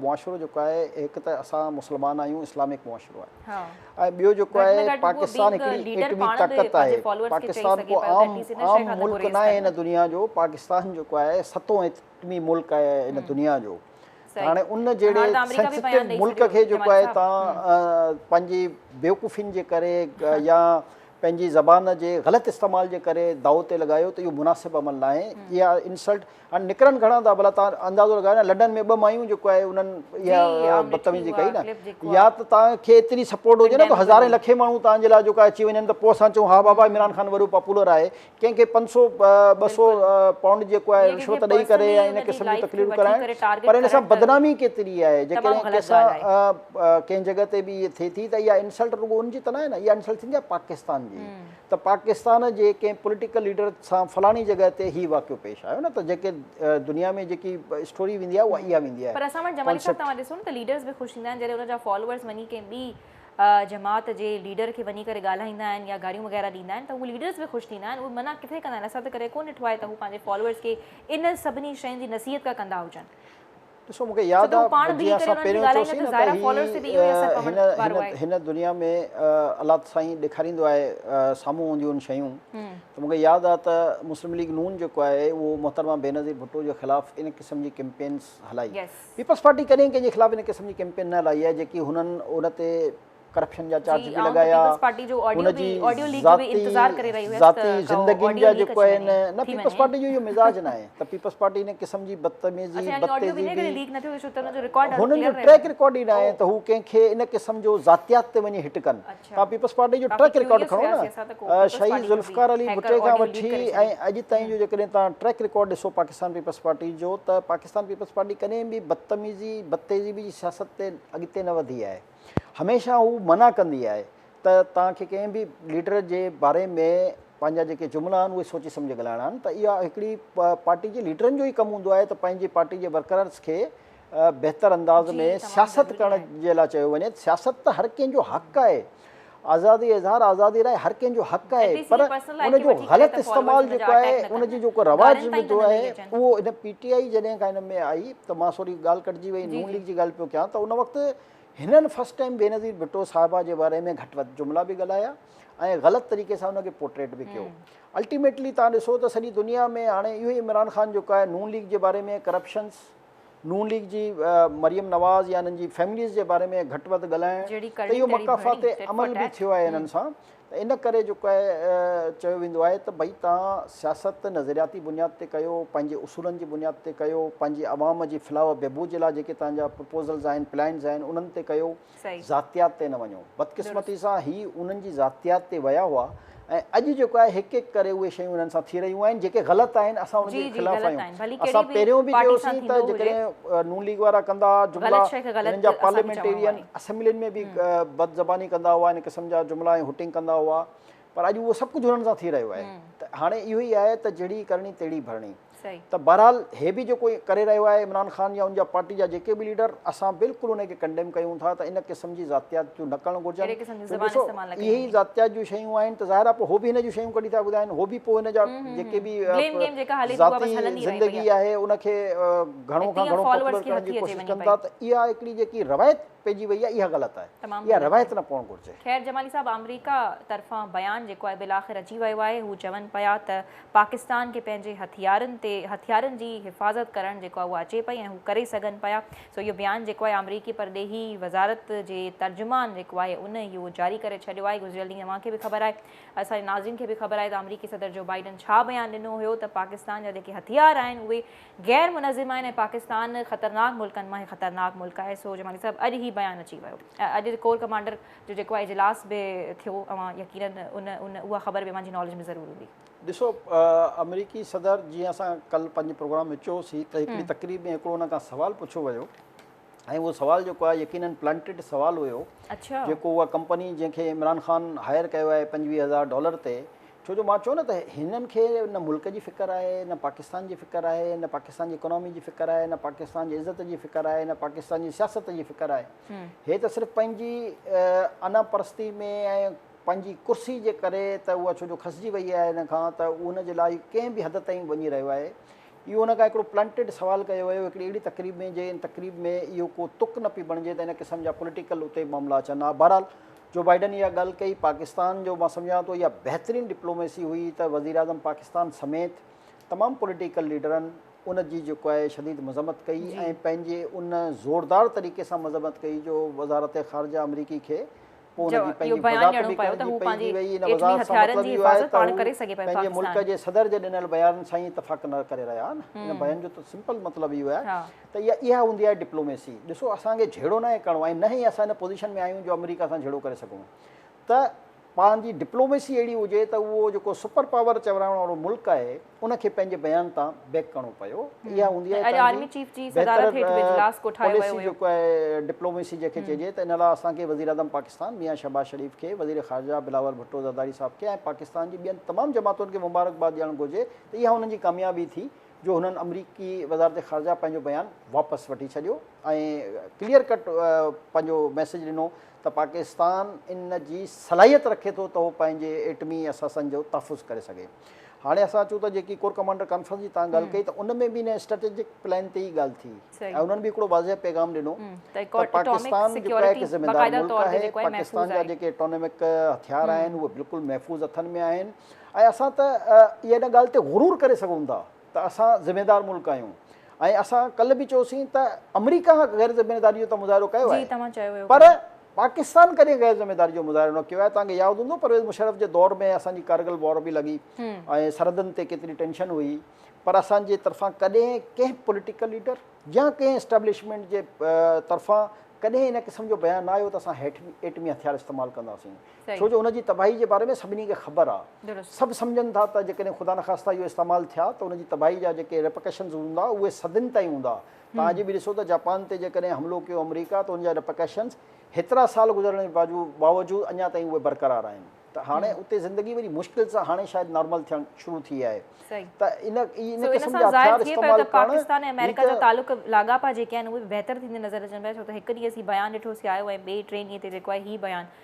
معاشرو جيڪو آهي هڪ ته اسان مسلمان آهيون اسلامڪ معاشرو آهي ۽ ٻيو جيڪو آهي پاڪستان هڪڙي ايٽمي طاقت آهي پاڪستان ڪو عام عام ملڪ ناهي هن دنيا جو پاڪستان جيڪو آهي ستون ايٽمي ملڪ آهي هن دنيا جو هاڻي ان جهڙي سينسٽو ملڪ کي جيڪو آهي تان پنهنجي بيوقوفين جي ڪري يا پنهنجي زبان جي غلط استعمال جي ڪري داؤ تي لڳايو ته اهو مناسب عمل ناهي اها انسلٽ هاڻي نڪرن گهڻا ته ڀلا توهان اندازو لڳايو نه لڏن ۾ ٻه مايون جيڪو آهي انهن اها بدتميزي ڪئي نه يا ته توهان کي ايتري سپورٽ هجي نه ته هزارين لکين ماڻهو توهان جي لاء جيڪو آهي اچي وڃن ته پوء اسان چئون ها بابا عمران خان وڏو پاپولر آهي ڪنهن کي پنج سو ٻه سو پائونڊ جيڪو آهي رشوت ڏئي ڪري ۽ ان قسم جون تقريرون ڪرائڻ پر ان سان بدنامي ڪيتري آهي جيڪڏهن ڪنهن سان ڪنهن جڳهه تي به اهي ٿئي ٿي ته اها انسلٽ رڳو ان جي ته نه آهي نه اها انسلٽ ٿيندي آهي پاڪستان جي ته پاڪستان جي ڪنهن پوليٽيڪل ليڊر سان فلاڻي جڳهه تي هي واقعو پيش آيو نه ته جيڪي دنيا ۾ جيڪي اسٽوري ويندي آهي اها اها ويندي آهي پر اسان وٽ جمالي صاحب توهان ڏسو نه ته ليڊرز به خوش ٿيندا آهن جڏهن ان جا فالوورز وڃي ڪنهن ٻي جماعت جي ليڊر کي وڃي ڪري ڳالهائيندا آهن يا گاريون وغيره ڏيندا آهن ته اهي ليڊرز به خوش ٿيندا آهن اهي منع ڪٿي ڪندا آهن اسان ته ڪڏهن ڪونه ڏٺو آهي ته هو پنهنجي فالوورز کي انهن سڀني شين جي نصيحت ڪا ڪندا هجن. ڏسو مون کي ياد آهي جي اسان پهريون چوسين نه ته هي هن هن دنيا ۾ الله سائين ڏيکاريندو آهي سامهون هونديون آهن شيون ته مون کي ياد آهي ته مسلم ليگ نون جيڪو آهي اهو محترمه بينظير ڀٽو جي خلاف ان قسم جي ڪيمپينس هلائي پيپلز پارٽي ڪڏهن ڪنهن جي خلاف ان قسم جي ڪيمپين نه هلائي آهي جيڪي هنن ان تي ڪرپشن جا چارج به لڳايا ان جي ذاتي ذاتي زندگين جا جيڪو آهي نه نه پيپلز پارٽي جو اهو مزاج ناهي ته پيپلز پارٽي ان قسم جي بدتميزي بدتيزي هن جو ٽريڪ رڪارڊ ئي ناهي ته هو ڪنهن کي ان قسم جو ذاتيات تي وڃي هٽ ڪن تان پيپلز پارٽي جو ٽريڪ رڪارڊ کڻو نه شهيد ذوالفقار علي ڀٽي کان وٺي ۽ اڄ تائين جو جيڪڏهن تان ٽريڪ رڪارڊ ڏسو پاڪستان پيپلز پارٽي جو ته پاڪستان پيپلز پارٽي ڪڏهن به بدتميزي بدتيزي جي سياست تي اڳتي نه وڌي آهي هميشه هو منع ڪندي آهي ته توهان کي ڪنهن به ليڊر جي باري ۾ پنهنجا جيڪي جملا آهن اهي سوچي سمجهي ڳالهائڻا آهن ته اها هڪڙي پارٽي جي ليڊرن جو ئي ڪم هوندو آهي ته پنهنجي پارٽي جي ورڪررز کي بهتر انداز ۾ سياست ڪرڻ جي لاء چيو وڃي سياست ته هر ڪنهن جو حق آهي آزادي اظهار آزادي لاء هر ڪنهن جو حق آهي پر ان جو غلط استعمال جيڪو آهي ان جي جيڪو رواج وڌو آهي اهو ان پي ٽي آئي جڏهن کان ان ۾ آئي ته مان سوري ڳالهه ڪٽجي وئي نون ليگ جي ڳالهه پيو ڪيان ته ان وقت هنن فرسٽ ٽائيم بينظير ڀٽو صاحبه جي باري ۾ گهٽ وڌ جملا به ڳالهايا ۽ غلط طريقي سان ان کي پورٽريٽ به ڪيو الٽيميٽلي تان ڏسو ته سڄي دنيا ۾ هاڻي اهو عمران خان جيڪو آهي نون ليگ جي باري ۾ ڪرپشنس نون ليگ جي مريم نواز يا انهن جي فيمليز جي باري ۾ گهٽ وڌ ڳالهائڻ ته اهو مڪافات عمل به ٿيو آهي انهن سان ته ان ڪري جيڪو آهي چيو ويندو آهي ته ڀئي توهان سياست نظرياتي بنياد تي ڪيو پنهنجي اصولن جي بنياد تي ڪيو پنهنجي عوام جي فلاح و بهبود جي لاء جيڪي توهان جا پروپوزلز آهن پلانز آهن انهن تي ڪيو صحيح. ذاتيات تي نه وڃو. بدقسمتي سان هي انهن جي ذاتيات تي ويا هئا ۽ اڄ جيڪو آهي هڪ هڪ ڪري اهي شيون انهن سان ٿي رهيون آهن جيڪي غلط آهن اسان انهن جي خلاف آهيون اسان پهريون به چيوسين ته جيڪڏهن نون ليگ وارا ڪندا ها جملا انهن جا پارليامينٽيرين اسيمبلين ۾ به بد زباني ڪندا هئا ان قسم جا جملا ۽ هوٽنگ ڪندا هئا پر اڄ اهو سڀ ڪجهه انهن سان ٿي رهيو آهي ته هاڻي اهو ئي آهي ته جهڙي ڪرڻي تهڙي ڀرڻي. ته بهرحال هي به جيڪو ڪري رهيو آهي عمران خان يا ان جا پارٽي جا جيڪي به ليڊر اسان بلڪل انهي کي ڪنڊيم ڪيون ٿا ته ان قسم جي ذاتيات جو نه ڪرڻ گهرجن ڏسو اهي ئي ذاتيات جون شيون آهن ته ظاهر آهي پوء هو به هن جون شيون ڪڍي ٿا ٻڌائين هو به پوء هن جا جيڪي به ذاتي زندگي آهي ان کي گهڻو کان گهڻو پاپولر ڪرڻ جي ڪوشش ڪن ٿا ته اها هڪڙي جيڪي روايت پئجي وئي آهي اها غلط آهي اها روايت نه پوڻ گهرجي. خير جمالي صاحب آمريڪا طرفان بيان جيڪو آهي بالاخر اچي ويو آهي هو چون پيا ته پاڪستان کي پنهنجي هٿيارن تي هٿيارن جي حفاظت ڪرڻ جيڪو آهي اهو اچي پئي ۽ هو ڪري سگهن پيا سو اهو بيان جيڪو آهي آمريڪي پرڏيهي وزارت جي ترجمان جيڪو آهي ان اهو جاري ڪري ڇڏيو آهي گذريل ڏينهن اوهان کي به خبر آهي اسان جي ناظرين کي به خبر آهي ته آمريڪي صدر جو بائيڊن ڇا بيان ڏنو هيو ته پاڪستان جا جيڪي هٿيار آهن اهي غير منظم آهن ۽ پاڪستان خطرناڪ ملڪن مان هڪ خطرناڪ ملڪ آهي سو جمالي صاحب اڄ هي بيان اچي ويو اڄ ڪور ڪمانڊر جو جيڪو آ اجلاس به ٿيو اوهان يقينن ان ان اها خبر به اوهان جي ناليج ۾ ضرور هوندي. ڏسو آمريڪي صدر جيئن اسان ڪل پنهنجي پروگرام ۾ چيوسي ته هڪڙي تقريب ۾ هڪڙو ان کان سوال پڇيو ويو ۽ اهو سوال جيڪو آ يقينن پلانٽيڊ سوال هيو جيڪو اها ڪمپني جنهن کي عمران خان هائر ڪيو آهي پنجويهه هزار ڊالر تي ڇو جو مان چيو نه ته هنن کي نه ملڪ جي فڪر آهي نه پاڪستان جي فڪر آهي نه پاڪستان جي اڪانومي جي فڪر آهي نه پاڪستان جي عزت جي فڪر آهي نه پاڪستان جي سياست جي فڪر آهي. هي ته صرف پنهنجي انا پرستي ۾ ۽ پنهنجي ڪرسي جي ڪري ته اها ڇو جو کسجي وئي آهي ان کان ته ان جي لاء ڪنهن به حد تائين وڃي رهيو آهي. اهو ان کان هڪڙو پلنٽيڊ سوال ڪيو ويو هڪڙي اهڙي تقريب ۾ جي ان تقريب ۾ اهو ڪو تڪ نه پئي بڻجي ته ان قسم جا پوليٽيڪل اتي معاملا اچن ها بهرحال جو بائيڊن اها ڳالهه ڪئي پاڪستان جو مان سمجهان ٿو اها بهترين ڊپلوميسي هئي ته وزيراعظم پاڪستان سميت تمام پوليٽيڪل ليڊرن ان جي جيڪو آهي شديد مذمت ڪئي ۽ پنهنجي ان زوردار طريقي سان مذمت ڪئي جو وزارت خارجه آمريڪي کي پوء ان جي پنهنجي وضاحت به ڪرڻي پئي پئجي وئي ان وضاحت سان مطلب اهو آهي ته هو پنهنجي ملڪ جي صدر جي ڏنل بيانن سان ئي اتفاق نه ڪري رهيا آهن ان بيان جو ته سمپل مطلب اهو آهي ته اها اها هوندي آهي ڊپلوميسي ڏسو اسان کي جهيڙو ناهي ڪرڻو ۽ نه ئي اسان ان پوزيشن ۾ آهيون جو آمريڪا سان جهيڙو ڪري سگهون ته پاڻ جي ڊپلوميسي اهڙي هجي ته اهو جيڪو سپر پاور چورائڻ وارو ملڪ آهي ان کي پنهنجي بيان تان بيڪ ڪرڻو پيو اها هوندي آهي تنهنجي بهتر پاليسي جيڪو آهي ڊپلوميسي جنهن کي چئجي ته ان لاء اسان کي وزيراعظم پاڪستان ميان شهباز شريف کي وزير خارجه بلاول ڀٽو زرداري صاحب کي ۽ پاڪستان جي ٻين تمام جماعتن کي مبارڪباد ڏيڻ گهرجي ته اها انهن جي ڪاميابي ٿي جو هنن آمريڪي وزارت خارجه پنهنجو بيان واپس وٺي ڇڏيو ۽ ڪليئر ڪٽ پنهنجو ميسيج ڏنو ته پاڪستان ان جي صلاحيت رکي ٿو ته هو پنهنجي ايٽمي اثاثن جو تحفظ ڪري سگهي. هاڻي اسان اچون ته جيڪي ڪور ڪمانڊر ڪانفرنس جي توهان ڳالهه ڪئي ته ان ۾ به ان اسٽريٽجڪ پلان تي ئي ڳالهه ٿي ۽ انهن به هڪڙو واضح پيغام ڏنو ته پاڪستان جيڪو هڪ ذميوار ملڪ آهي، پاڪستان جا جيڪي ايٽمڪ هٿيار آهن اهي بلڪل محفوظ هٿن ۾ آهن ۽ اسان ته اها ان ڳالهه تي غرور ڪري سگهون ٿا. ته اسان ذميدار ملڪ آهيون ۽ اسان ڪلهه به چيوسين ته آمريڪا غير ذميداري جو ته مظاهرو ڪيو آهي پر پاڪستان ڪڏهن غير ذميداري جو مظاهرو نه ڪيو آهي توهان کي ياد هوندو پرويز مشرف جي دور ۾ اسان جي ڪارگل وار به لڳي ۽ سرحدن تي ڪيتري ٽينشن هئي پر اسان جي طرفان ڪڏهن ڪنهن پوليٽيڪل ليڊر يا ڪنهن اسٽيبلشمينٽ جي طرفان ڪڏهن ان قسم جو بيان نه آيو ته اسان ايٽمي هٿيار استعمال ڪنداسين ڇو جو ان جي تباهي جي باري ۾ سڀني کي خبر آ. سڀ سمجهن ٿا ته جيڪڏهن خدا نخواسته اهي استعمال ٿيا ته ان جي تباهي جا جيڪي Repercussions هوندا اهي صدين تائين هوندا. توهان اڄ به ڏسو ته جاپان تي جيڪڏهن حملو ڪيو آمريڪا ته ان جا Repercussions هيترا سال گذرڻ جي باوجود اڃا تائين اهي برقرار آهن. ته هاڻي اتي زندگي وڏي مشڪل سان هاڻي شايد نارمل ٿيڻ شروع ٿي آهي. ته ان ان قسم جا هٿيار استعمال ڪرڻ هي ته.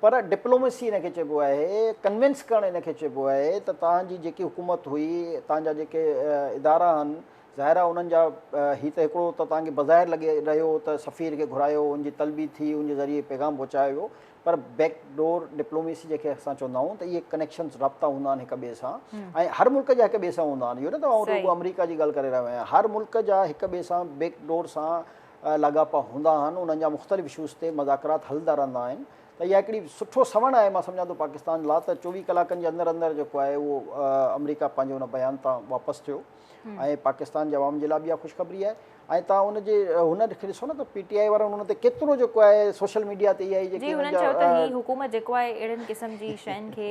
پر ڊپلوميسي ان کي چئبو آهي، ڪنوينس ڪرڻ ان کي چئبو آهي ته توهان جي جيڪي حڪومت هئي، توهان جا جيڪي ادارا آهن، ظاهر آهي انهن جا هي ته هڪڙو ته توهان کي بظاهر لڳي رهيو ته سفير کي گهرايو، ان جي طلبي ٿي، ان جي ذريعي پيغام پهچايو ويو، پر بيڪ ڊور ڊپلوميسي جنهن کي اسان چوندا آهيون ته اهي ڪنيڪشنز، رابطا هوندا آهن هڪ ٻئي سان ۽ هر ملڪ جا هڪ ٻئي سان هوندا آهن، اهو نه ته آئون رڳو آمريڪا جي ڳالهه ڪري رهيو آهيان، هر ملڪ جا هڪ ٻئي سان بيڪ ڊور سان لاڳاپا هوندا آهن انهن جا مختلف اشوز تي مذاڪرات هلندا رهندا آهن ته اها هڪڙي سٺو سوڻ آهي مان سمجهان ٿو پاڪستان لا ته چوويهه ڪلاڪن جي اندر اندر جيڪو آهي اهو آمريڪا پنهنجي ان بيان تان واپس ٿيو ۽ پاڪستان جي عوام جي لاء به اها خوشخبري آهي ۽ تان ان جي هن کي ڏسو نه ته پي ٽي آئي وارن ان تي ڪيترو جيڪو آهي سوشل ميڊيا تي اها جي جيڪي حڪومت جيڪو آهي اهڙن قسم جي شين کي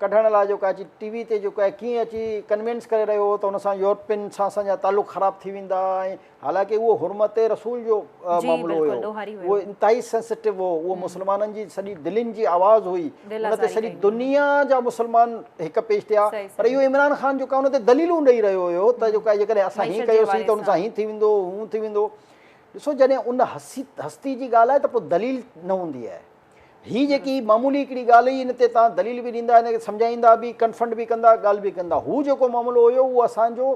ڪڍڻ لاء جيڪو اچي ٽي وي تي جيڪو آهي ڪيئن اچي ڪنوينس ڪري رهيو هو ته ان سان يورپين سان اسان جا تعلق خراب ٿي ويندا ۽ حالانڪه اهو حرمت رسول جو معاملو هيو اهو انتهائي سينسٽو هو اهو مسلمانن جي سڄي دلين جي آواز هئي ان تي سڄي دنيا جا مسلمان هڪ پيش ٿيا پر اهو عمران خان جيڪو ان تي دليلون ڏئي رهيو هيو ته جيڪو جيڪڏهن اسان هي ڪيوسين ته ان سان هي ٿي ويندو هو ٿي ويندو ڏسو جڏهن ان هستي جي ڳالهه آهي ته پوء دليل نه هوندي آهي هي جيڪي معمولي هڪڙي ڳالهه هئي ان تي توهان دليل به ڏيندا ان کي سمجهائيندا به ڪنفنڊ به ڪندا ڳالهه به ڪندا هو جيڪو معاملو هيو اهو اسان جو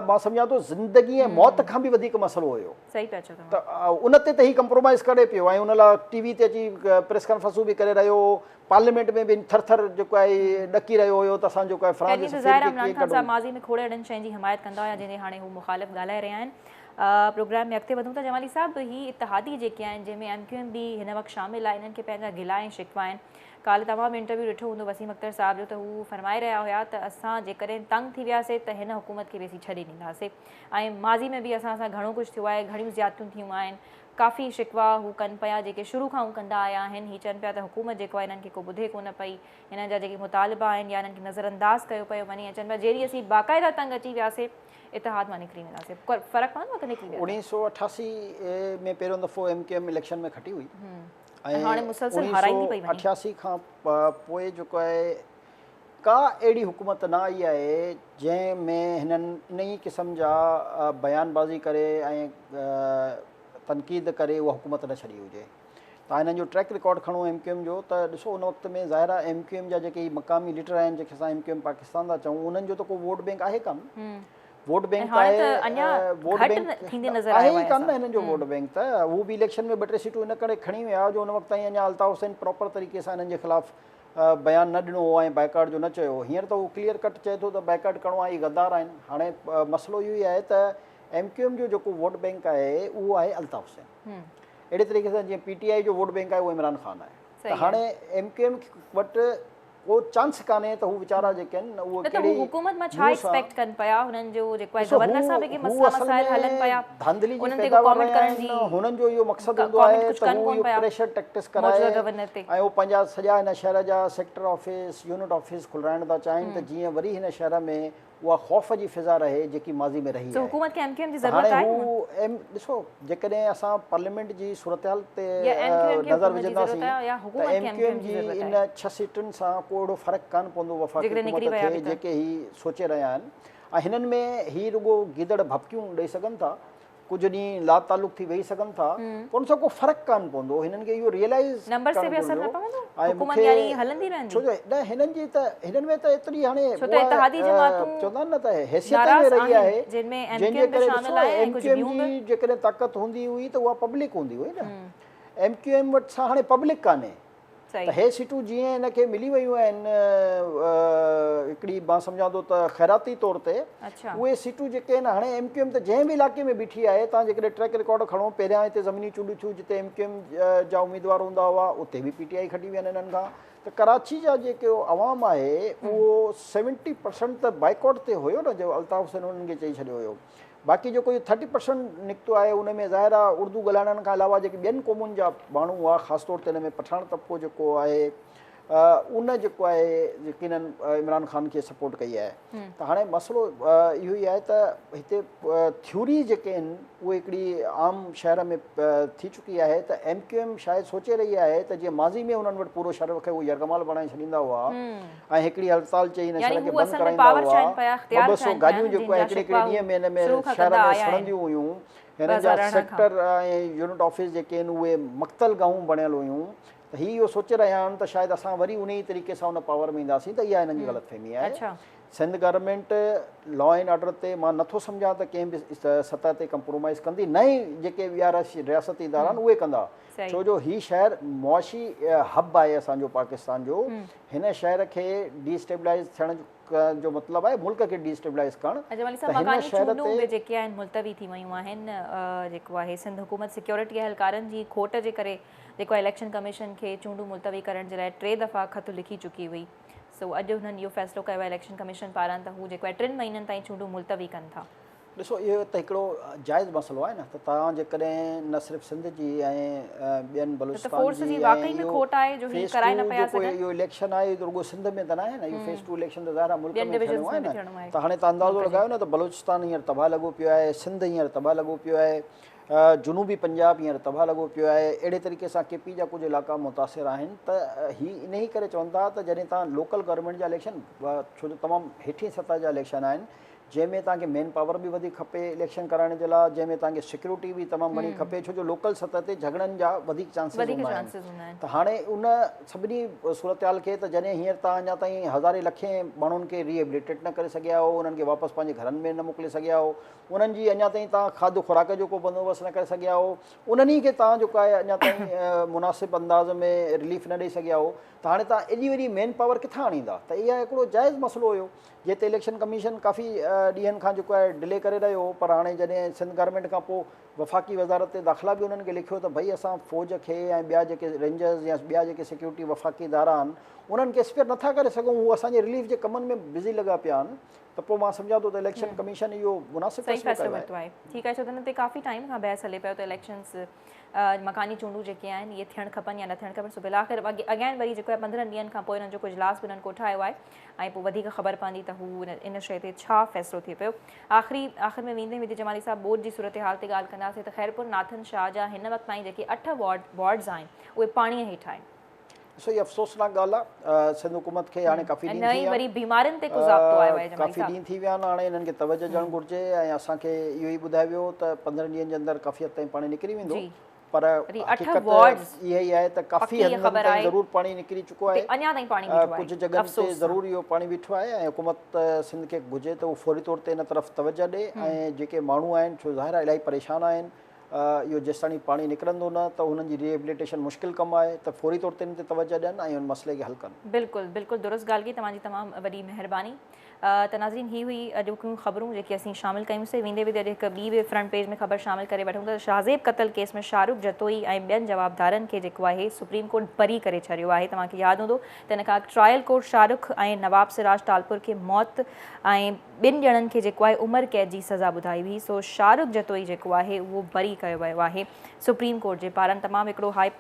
مان سمجهان ٿو زندگي ۽ موت کان به وڌيڪ مسئلو هيو صحيح پيا چئو ته ان تي ته هي ڪمپرومائز ڪري پيو ۽ ان لاء ٽي وي تي اچي پريس ڪانفرنسون به ڪري رهيو هو پارليامينٽ ۾ به ٿر ٿر جيڪو آهي ڏڪي رهيو هيو ته اسان جيڪو آهي فرانس جي سفير کي ڪيئن ڪڍون عمران خان صاحب ماضي ۾ کوڙ اهڙن شين جي حمايت ڪندا هيا جن جي هاڻي هو مخالف ڳالهائي رهيا آهن پروگرام ۾ اڳتي وڌون ٿا جمالي صاحب هي اتحادي جيڪي آهن جنهن ۾ ايم ڪيو ايم به هن وقت شامل آهي انهن کي پنهنجا گلا ۽ شڪوا آهن ڪالهه توهان به انٽرويو ڏٺو هوندو وسيم اختر صاحب جو ته هو فرمائي رهيا هيا ته اسان جيڪڏهن تنگ ٿي وياسي ته هن حڪومت کي به اسين ڇڏي ڏينداسي ۽ ماضي ۾ به اسان سان گهڻو ڪجهه ٿيو آهي گهڻيون زيادتيون ٿيون آهن ڪافي شڪوا هو ڪن پيا جيڪي شروع کان هو ڪندا آيا آهن هي چون پيا ته حڪومت جيڪو آهي انهن کي ڪو ٻڌي ڪونه پئي انهن جا جيڪي مطالبا آهن يا انهن کي نظر انداز ڪيو پيو وڃي ۽ چون پيا جيڏي اسين باقاعده تنگ اچي وياسي اتحاد مان نڪري وينداسين فرق پوندو اگر نڪري ويا اوڻيهه سؤ اٺاسي ۾ پهريون دفعو ايم ڪيو ايم اليڪشن ۾ کٽي هئي ۽ هاڻي مسلسل هارائيندي پئي وڃي اٺياسي کان پوء جيڪو آهي ڪا اهڙي حڪومت نه آئي آهي جنهن ۾ هنن انهي قسم جا بيان بازي ڪري ۽ تنقيد ڪري اها حڪومت نه ڇڏي هجي تان هنن جو ٽريڪ رڪارڊ کڻو ايم ڪيو ايم جو ته ڏسو ان وقت ۾ ظاهر آهي ايم ڪيو ايم جا جيڪي هي مقامي ليڊر آهن جيڪي اسان ايم ڪيو ايم پاڪستان ٿا چئون انهن جو ته ڪو ووٽ بينڪ آهي ڪانه ووٽ بينڪ ته آهي ووٽ بينڪ آهي ئي ڪانه هنن جو ووٽ بينڪ ته هو به اليڪشن ۾ ٻه ٽي سيٽون ان ڪري کڻي ويا جو ان وقت تائين اڃا الطاف حسين پراپر طريقي سان هنن جي خلاف بيان نه ڏنو هو ۽ بائيڪاٽ جو نه چيو هو هينئر ته هو ڪليئر ڪٽ چئي ٿو ته بائيڪاٽ ڪرڻو آهي هي غدار آهن هاڻي مسئلو اهو ئي آهي ته ايم ڪيو ايم جو جيڪو ووٽ بينڪ آهي اهو آهي الطاف حسين اهڙي طريقي سان جيئن پي ٽي آء جو ووٽ بينڪ آهي اهو عمران خان آهي ته هاڻي ايم ڪيو ايم وٽ ڪو چانس ڪانهي ته هو ويچارا جيڪي آهن نه اهو ڪهڙي حڪومت مان ڇا ايڪسپيڪٽ ڪن پيا هنن جو جيڪو آهي گورنر صاحب کي مسئلا مسائل هلن پيا ڌانڌلي جي پيداوار رهيا آهن هنن جو اهو مقصد هوندو آهي ته هو اهو پريشر ٽيڪٽس ڪرائي ۽ اهو پنهنجا سڄا هن شهر جا سيڪٽر آفيس يونٽ آفيس کلرائڻ ٿا چاهين ته جيئن وري هن شهر ۾ اها خوف جي فضا رهي جيڪي ماضي ۾ رهي آهي ته هاڻي هو ايم ڏسو جيڪڏهن اسان پارليامينٽ جي صورتحال تي نظر وجهنداسين ته ايم ڪيو ايم جي ان ڇهه سيٽن سان ڪو اهڙو فرق ڪانه پوندو وفاقي حڪومت کي جيڪي هي سوچي رهيا آهن ۽ هنن ۾ هي رڳو گيدڙ ڀڀڪيون ڏئي سگهن ٿا ڪجهه ڏينهن لاتعلق ٿي ويهي سگهن ٿا پر ان سان ڪو فرق ڪانه پوندو هنن کي اهو ريئلائز ڪرڻ گهرجو ۽ مونکي ڇو جو نه هنن جي ته هنن ۾ ته ايتري هاڻي چوندا آهن نه ته حيثيت ۾ رهي آهي جنهن جي ڪري ڏسو ايم ڪيو ايم جي جيڪڏهن طاقت هوندي هئي ته اها پبلڪ هوندي هئي نه ايم ڪيو ايم وٽ سا هاڻي پبلڪ ڪانهي ته هي سيٽون جيئن هن کي ملي ويون آهن هڪڙي مان سمجهان ٿو ته خيراتي طور تي اهي سيٽون جيڪي آهن هاڻي ايم ڪيو ايم ته جنهن به علائقي ۾ بيٺي آهي تان جيڪڏهن ٽريڪ رڪارڊ کڻو پهريان هتي زميني چونڊون ٿيون جتي ايم ڪيو ايم جا اميدوار هوندا هئا اتي به پي ٽي آئي کٽي ويا آهن هنن کان ته ڪراچي جا جيڪو عوام آهي اهو سيونٽي پرسنٽ ته بائيڪاٽ تي هيو نه جو الطاف حسين هنن کي چئي ڇڏيو هيو باقي جيڪو اهو ٿرٽي پرسنٽ نڪتو آهي ان ۾ ظاهر آهي اردو ڳالهائڻن کان علاوه جيڪي ٻين قومن جا ماڻهو هئا خاص طور تي ان ۾ پٺاڻ طبقو جيڪو آهي ان جيڪو آهي يقيناً عمران خان کي سپورٽ ڪئي آهي ته هاڻي مسئلو اهو ئي آهي ته هتي ٿيوري جيڪي آهن اهي هڪڙي عام شهر ۾ ٿي چڪي آهي ته ايم ڪيو ايم شايد سوچي رهي آهي ته جيئن ماضي ۾ انهن وٽ پورو شهر رکي اهو يرغمال بڻائي ڇڏيندا هئا ۽ هڪڙي هڙتال چئي هن شھر کي بند ڪرائيندا هئا. ٻه ٻه سو گاڏيون جيڪو هڪڙي هڪڙي ڏينهن ۾ هن ۾ شھر ۾ سڙنديون هيون. هنن جا سيڪٽر ۽ يونٽ آفيس جيڪي هن اهي مقتل گاهون بڻيل هيون ته هي اهو سوچي رهيا آهن ته شايد اسان وري انهي ئي طريقي سان ان پاور ۾ اينداسين ته اها هنن جي غلط فهمي آهي. Sindh government law and order تي مان نٿو سمجهان ته ڪنهن به سطح تي ڪمپرومائيز ڪندي نه ئي جيڪي ٻيا رياستي ادارا آهن اهي ڪندا. ڇو جو هي شهر معاشي هب آهي اسان جو پاڪستان جو هن شهر کي ڊي اسٽيبلائز ٿيڻ جو مطلب آهي ملڪ کي ڊي اسٽيبلائز ڪرڻ اچا مولوي صاحب مڪاني چونڊون به جيڪي آهن ملتوي ٿي ويون آهن جيڪو آهي سنڌ حڪومت سيڪيورٽي اهلڪارن جي کوٽ جي ڪري جيڪو اليڪشن ڪميشن کي چونڊون ملتوي ڪرڻ جي لاء ٽي دفعا خط لکي چڪي هئي سو اڄ هنن اهو فيصلو ڪيو آهي اليڪشن ڪميشن پاران ته هو جيڪو آهي ٽن مهينن تائين چونڊون ملتوي ڪن ٿا ڏسو اهو ته هڪڙو جائز مسئلو آهي نه ته توهان جيڪڏهن نه صرف سنڌ جي ۽ ٻين بلوچستان جي ۽ اهو فيس ٽو جيڪو اهو اليڪشن آهي اهو ته رڳو سنڌ ۾ ته نه آهي نه اهو فيس ٽو اليڪشن ته ظاهر آهي ملڪ ۾ ٿيڻو آهي نه ته هاڻي تهان اندازو لڳايو نه ته بلوچستان هينئر تباهه لڳو پيو آهي سنڌ هينئر تباهه لڳو پيو آهي جنوبي پنجاب هينئر تباهه لڳو پيو آهي اهڙي طريقي سان ڪي پي جا ڪجهه علائقا متاثر آهن ته هي انهي ڪري چون ٿا ته جڏهن تهان لوڪل گورنمينٽ جا اليڪشن ڇو جو تمام هيٺين سطح جا اليڪشن آهن جنهن ۾ توهان کي مين پاور به وڌيڪ کپي اليڪشن ڪرائڻ جي لاء جنهن ۾ توهان کي سيڪيورٽي به تمام گهڻي کپي ڇو جو لوڪل سطح تي جهڳڙن جا وڌيڪ چانسز هوندا آهن ته هاڻي ان سڀني صورتحال کي ته جڏهن هينئر توهان اڃا تائين هزارين لکين ماڻهن کي ري ايبليٽيٽ نه ڪري سگهيا آهو انهن کي واپس پنهنجي گهرن ۾ نه موڪلي سگهيا آهو انهن جي اڃا تائين توهان کاڌ خوراڪ جو ڪو بندوبست نه ڪري سگهيا آهو انهن ئي کي توهان جيڪو آهي اڃا تائين مناسب انداز ۾ رليف نه ڏئي سگهيا آهو ته هاڻي توهان ايڏي وڏي مين پاور ڪٿان آڻيندا ته اها هڪڙو جائز مسئلو هيو جنهن تي اليڪشن ڪميشن ڪافي ڏينهن کان جيڪو آهي ڊلي ڪري رهيو هو پر هاڻي جڏهن سنڌ گورنمينٽ کان پوء وفاقي وزارت داخلا به انهن کي لکيو ته ڀئي اسان فوج کي ۽ ٻيا جيڪي رينجرز يا ٻيا جيڪي سيڪيورٽي وفاقي ادارا آهن انهن کي اسپيئر نٿا ڪري سگهون هو اسان جي رليف جي ڪمن ۾ بزي لڳا پيا آهن ته پوء مان سمجهان ٿو ته اليڪشن ڪميشن اهو مناسب فيصلو ورتو آهي ٺيڪ آهي ڇو ته هن تي ڪافي ٽائيم کان بحث هلي پيو ته اليڪشنز مڪاني چونڊون جيڪي آهن اهي ٿيڻ کپن يا نه ٿيڻ کپن سو بلاخر اگين وري جيڪو آهي پندرهن ڏينهن کان پوء انهن جو ڪجلاس به انهن ڪوٺايو آهي ۽ پوء وڌيڪ خبر پوندي ته هو ان شيء تي ڇا فيصلو ٿئي پيو. آخري آخر ۾ ويندي ويندي جمالي صاحب ٻوڏ جي صورتحال تي ڳالهه ڪنداسين ته خيرپور ناٿن شاهه جا هن وقت تائين جيڪي اٺ وارڊ وارڊز آهن اهي پاڻيء هيٺ آهن. ڏسو هي افسوسناڪ ڳالهه آ سنڌ حڪومت کي هاڻي ڪافي ڏينهن ٿي ويا آهن ڪافي ڏينهن ٿي ويا آهن هاڻي هنن کي توجه ڏيڻ گهرجي ۽ اسان کي اهو ئي ٻڌايو ويو هو ته پندرهن ڏينهن جي اندر ڪافي حد تائين پاڻي نڪري ويندو پر حقيقت اها ئي آهي ته ڪافي حد تائين ضرور پاڻي نڪري چڪو آهي ڪجهه جڳهن تي ضرور اهو پاڻي بيٺو آهي ۽ حڪومت سنڌ کي گهرجي ته اهو فوري طور تي ان طرف توجه ڏي ۽ جيڪي ماڻهو آهن سو ظاهر آهي الاهي پريشان آهن اهو جيستاڻي پاڻي نڪرندو نه ته انهن جي ري ايبليٽيشن مشڪل ڪم آهي ته فوري طور تي ان تي توجه ڏين ۽ ان مسئلي کي حل ڪن بلڪل بلڪل درست ڳالهه ڪئي توهان جي تمام وڏي مهرباني ته ناظرين هي هئي اڄوڪيون خبرون جيڪي اسين شامل ڪيون سي ويندي ويندي اڄ هڪ ٻي به فرنٽ پيج ۾ خبر شامل ڪري وٺون ته شاهزيب قتل ڪيس ۾ شاهرخ جتوئي ۽ ٻين جوابدارن کي جيڪو آهي سپريم ڪورٽ بري ڪري ڇڏيو آهي توهان کي ياد هوندو ته ان کان اڳ ٽرائل ڪورٽ شاهرخ ۽ نواب سراج ٽالپر کي موت ۽ ٻن ڄڻن کي جيڪو آهي عمر قيد جي سزا ٻڌائي هئي سو شاهرخ جتوئي جيڪو آهي اهو بري ڪيو ويو آهي سپريم ڪورٽ جي پاران تمام هڪڙو هائي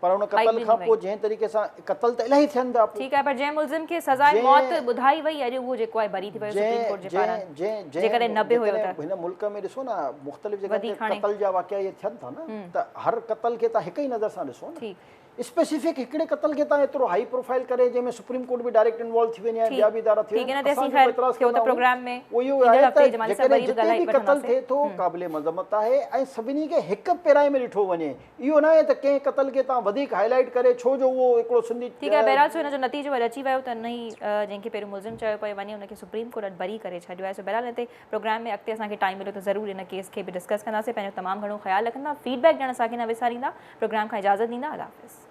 پر ان قتل کان پوء جنهن طريقي سان قتل ته الاهي ٿين ٿا ٺيڪ آهي پر جنهن ملزم کي سزاء موت ٻڌائي وئي اڄ اهو جيڪو آهي بري ٿي پيو سپريم ڪورٽ جي پاران جيڪڏهن نه به هيو ته هن ملڪ ۾ ڏسو نه مختلف جڳهن تي قتل جا واقعا اهي ٿين ٿا نه ته هر قتل کي تان هڪ ئي نظر سان ڏسو نه اسپيسيفڪ هڪڙي قتل کي تان ايترو هائي پروفائل ڪري جنهن ۾ سپريم ڪورٽ به ڊائريڪٽ انوالو ٿي وڃي ٻيا به ادارا ٿي وڃن اسان جيڪو اعتراض ڪندا آهيون اهو آهي ته جيڪڏهن جتي به قتل ٿئي ٿو قابل مذمت آهي ۽ سڀني کي هڪ پيرائي ۾ ڏٺو وڃي اهو ناهي ته ڪنهن قتل کي توهان وڌيڪ هاء لائيٽ ڪري ڇو جو اهو هڪڙو سنڌي. ٺيڪ آهي بهرحال سو هن جو نتيجو اڄ اچي ويو ته ان ئي جنهن کي پهريون ملزم چيو پيو وڃي ان کي سپريم ڪورٽ اڄ بري ڪري ڇڏيو آهي سو بهرحال هن تي پروگرام ۾ اڳتي اسان کي ٽائيم مليو ته ضرور ان ڪيس کي به ڊسڪس ڪنداسين پنهنجو تمام گهڻو خيال رکندا فيڊ بيڪ ڏيڻ اسان کي نه وساريندا پروگرام کان اجازت ڏيندا الله حافظ.